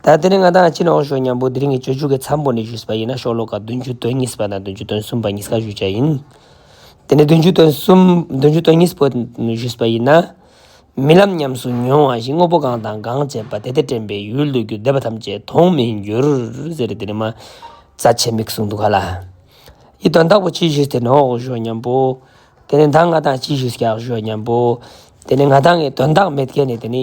ད་དེ་རིང་ང་དང་ཨ་ཕྱི་ནང་བཞུགས་མཉམ་པོ་འདི་རིང་གི་སྤྱོད་འཇུག་གི་མཚམས་པོ་ནས་བཞུགས་པ་ཡིན་ན་ཤོག་ལོ་ཀ་བདུན་ཅུ་དོན་གཉིས་པ་དང་བདུན་ཅུ་དོན་གསུམ་པ་གཉིས་ཀ་བཞུགས་བྱ་ཡིན། དེ་ནས་བདུན་ཅུ་དོན་གསུམ། བདུན་ཅུ་དོན་གཉིས་པོ་བཞུགས་པ་ཡིན་ན། རྨི་ལམ་ཉམས་སུ་མྱོང་བ་བཞིན་དངོས་པོ་གང་དང་གང་བྱས་པ་དེ་དེ་དྲན་པའི་ཡུལ་དུ་གྱུར་འདས་པ་ཐམས་ཅད་མཐོང་མི་འགྱུར། ཟེར་རེ་དེ་རིང་མ་རྩ་ཆེ་མིག་གསུངས་འདུག་ག་ལ། ཡི་དོན་དག་པོ་ཕྱི་བཞུགས་དེ་ནོག་བཞུགས་མཉམ་པོ། དེ་ནས་ད་ང་དང་ཕྱི་བཞུགས་ཀྱང་བཞུགས་མཉམ་པོ། དེ་ནས་ང་དང་ངའི་དོན་དག་མེད་མཁན་ནི་དེ་ནི།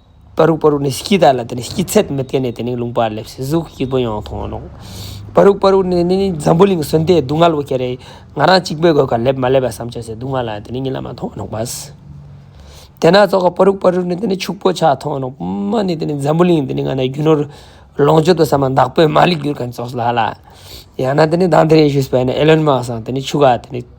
པ་རུག་པ་རུག་ནི་སྐྱི་དག་ལ་དེ་ནི་སྐྱི་ཚད་མི་བརྟན་ནས་དེ་ནི་ལུང་པར་སླེབས་སྲིད་གཟུགས་སྐྱིད་པོ་ཡང་མཐོང་རུང། པ་རུག་པ་རུག་ནི་ནི་ནི་འཛམ་བུ་གླིང་ཟོན་ཏེ་སྡུག་བསྔལ་བོ་སྐྱེ་རེ། ང་རང་གཅིག་པོའི་གོས་ཁར་སླེབས་མ་སླེབས་པ་བསམ་ཆོག་སའི་སྡུག་བསྔལ་ལ་དེ་ནི་ཉིད་ལ་མ་མཐོང་རུང། དེ་ན་ཙོག་ཁ་པ་རུག་པ་རུག་ནི་དེ་ནི་ཕྱུག་པོ་ཆགས་མཐོང་རུང། པདྨ་ནི་དེ་ནི་འཛམ་བུ་གླིང་དེ་ནི་ང་ནི་རྒྱུ་ནོར། ལོངས་སྤྱོད་དུ་བསམ་ན་བདག་པོས་མ་ལེགས་གྱུར་གང་ཙོག་ལ་ལ། ཡང་ན་དེ་ནི་དང་དེ་རེ་ཞུས་པས་ནི་ཨེ་ལོན་མ་སང་དེ་ནི་ཕྱུག་ག་དེ་ནི།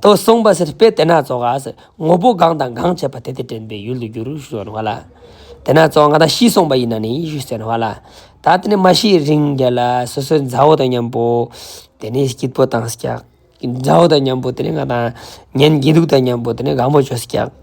ཏོ། གསུངས་པ་སེར་སྤེལ་དེ་ན་རྫོགས་ཨ་ཟེར། ངོ་བོ་གང་དང་གང་བྱས་པ་དེ་དེ་དྲན་པའི་ཡུལ་དུ་འགྱུར་ཞེས་བྱ་བ་ལ། དེ་ན་རྫོགས་ང་དང་ཤི་གསུངས་པ་ཡིན་ན་ནི་ཞེས་བྱ་བ་ལ། ད་དེ་ནི་མ་ཤི་རིང་རྒྱལ་ལ་སོ་སོའི་མཛའ་བོ་དང་མཉམ་པོ། དེ་ནི་སྐྱིད་པོ་དང་སྐྱག། མཛའ་བོ་དང་མཉམ་པོ་དེ་ནི་ང་དང། གཉེན་སྐྱིད་སྡུག་དང་མཉམ་པོ་དེ་ནི་གང་པོ་ཆོས་སྐྱག།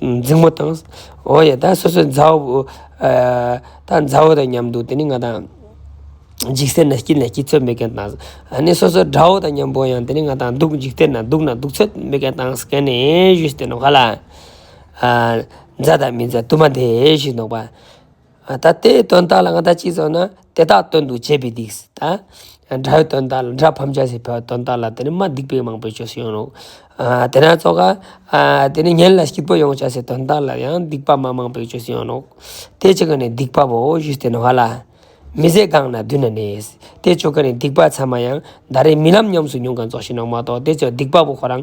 འཛིང་མོ་དང། འོ་ཡ་ད་སོ་སོའི་མཛའ་བོ། ད་མཛའ་བོ་དང་མཉམ་འདུག་དེ་ནི་ང་དང། འཇིག་རྟེན་ན་སྐྱིད་ན་སྐྱིད་ཚོད་མེད་མཁན་དང། ནི་སོ་སོའི་དགྲ་བོ་དང་མཉམ་པོ་ཡང་དེ་ནི་ང་དང་འདུག་འཇིག་རྟེན་ན་སྡུག་ན་སྡུག་ཚོད་མེད་མཁན་དང་ཟེར་མཁན་ནི་གཞུ་ཞིག་སྟེ་འདོགས་ག་ལ། མཛའ་དང་མི་མཛའ་དུ་མ་དེ་ཞིག་འདོགས་པ། ད་ལྟའི་དོན་དག་ལ་ང་ད་ཅིག་ཟོ་ན་དེ་དག་དོན་དུ་བྱེད་པའི་དིགས་ད་དགྲའི་དོན་དག་ལ་དགྲ་ཕམ་བྱ་སའི་བར་དོན་དག་ལ་དེ་ནི་མ་སྡིག་པའི་མང་པོའི་ཆོས་སུ་ཡོང་རོགས་དེ་ན་ཚོ་ག་དེ་ནི་ཉན་ལ་སྐྱིད་པོ་ཡོང་བྱ་སའི་དོན་དག་ལ་ཡང་སྡིག་པ་མ་མང་པོའི་ཆོས་སུ་ཡོང་རོགས་དེ་ཅིག་ག་ནི་སྡིག་པ་བོ་བཞུ་སྟེ་ན་བ་ལ་མི་བཟད་སྒང་ན་བདུན་ན་གནས་དེ་ཆོ་ག་ནི་སྡིག་པ་ཚད་མ་ཡང་ད་རེས་རྨི་ལམ་ཉམས་སུ་མྱོང་ག་ཚོགས་ཤིང་ནོག་མ་གཏོགས་དེ་ཚོས་སྡིག་པ་བོ་ཁོ་རང་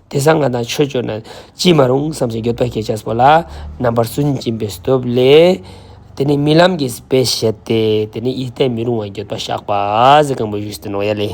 དེ་སང་ང་དང་ཆོས་སྤྱོད་ན་ཅིས་མ་རུང་བསམ་ཞིང་འགྱོད་པས་སྐད་ཆ་པོ་ལ་རྣམ་པར་སུན་འབྱིན་པའི་སྟོབས་ལས། དེ་ནི་རྨི་ལམ་གྱི་དཔེས་བཤད་དེ་དེ་ནི་ཡིད་བརྟན་མི་རུང་བ་འགྱོད་པ་བཤགས་པ་གཟི་རྐང་པོ་བཞུགས་སུ་གནང་ཡ་ལས།